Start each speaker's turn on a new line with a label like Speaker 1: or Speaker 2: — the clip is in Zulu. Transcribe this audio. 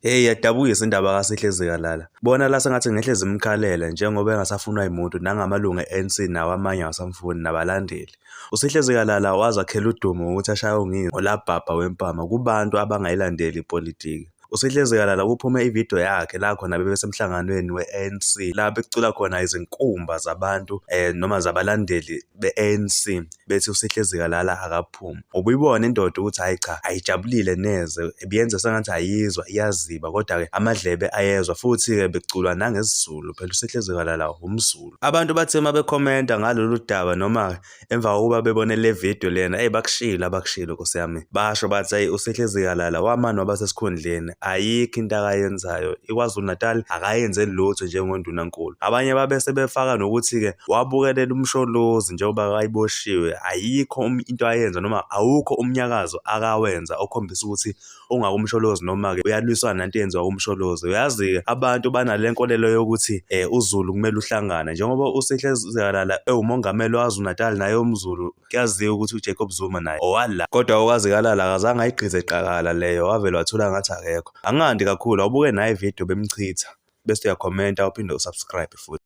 Speaker 1: Hey yadabukisa indaba kaSihle Zikalala. Bona la sengathi ngehle zimkhalela njengoba engasafunwa yimuntu nangamalungu e-ANC nawo amanye awasamfuni nabalandeli. USihle Zikalala wazakhela udumo ngokuthi ashaye unginga ngolabhabha wempama kubantu abangayilandeli ipolitiki. USihle Zikalala kuphume ividiyo yakhe la khona bebesemhlanganweni we-ANC la becula khona izinkumba zabantu um noma zabalandeli be-ANC bethi uSihle Zikalala ukuphuma ubuyibona indoda ukuthi hayi cha ayijabulile neze ebiyenza sengathi ayizwa iyaziba kodwa-ke amadlebe ayezwa futhi-ke beculwa nangesiZulu phela usehlezekala la umZulu abantu bathe uma bekhomenta ngalolu daba noma emva kokuba bebone le video lena eyi bakushilo abakushilo nkosi yami basho bathi ayi usehleziyalala wamani waba sesikhundleni ayikho into akayenzayo ikwazulu natal akayenzeli lutho njengondunankulu abanye babe sebefaka nokuthi-ke wabukelela umsholozi njengoba wayeboshiwe ayikho into ayenza noma awukho umnyakazo akawenza okhombisa ukuthi ungakumsholozi noma-ke uyalwisana nanto eyenziwa kumsholozi uyazi-ke abantu banale nkolelo yokuthi um uzulu kumele uhlangane njengoba usihle zikalala ewumongameli wazunatal naye umzulu kuyaziwa ukuthi ujacob zuma naye owala kodwa okazikalala akazange ayigqize qakala leyo wavele wathula ngathi akekho angandi kakhulu awubuke naye ividiyo bemchitha bese uyakhomenta uphinde usubscribe futhi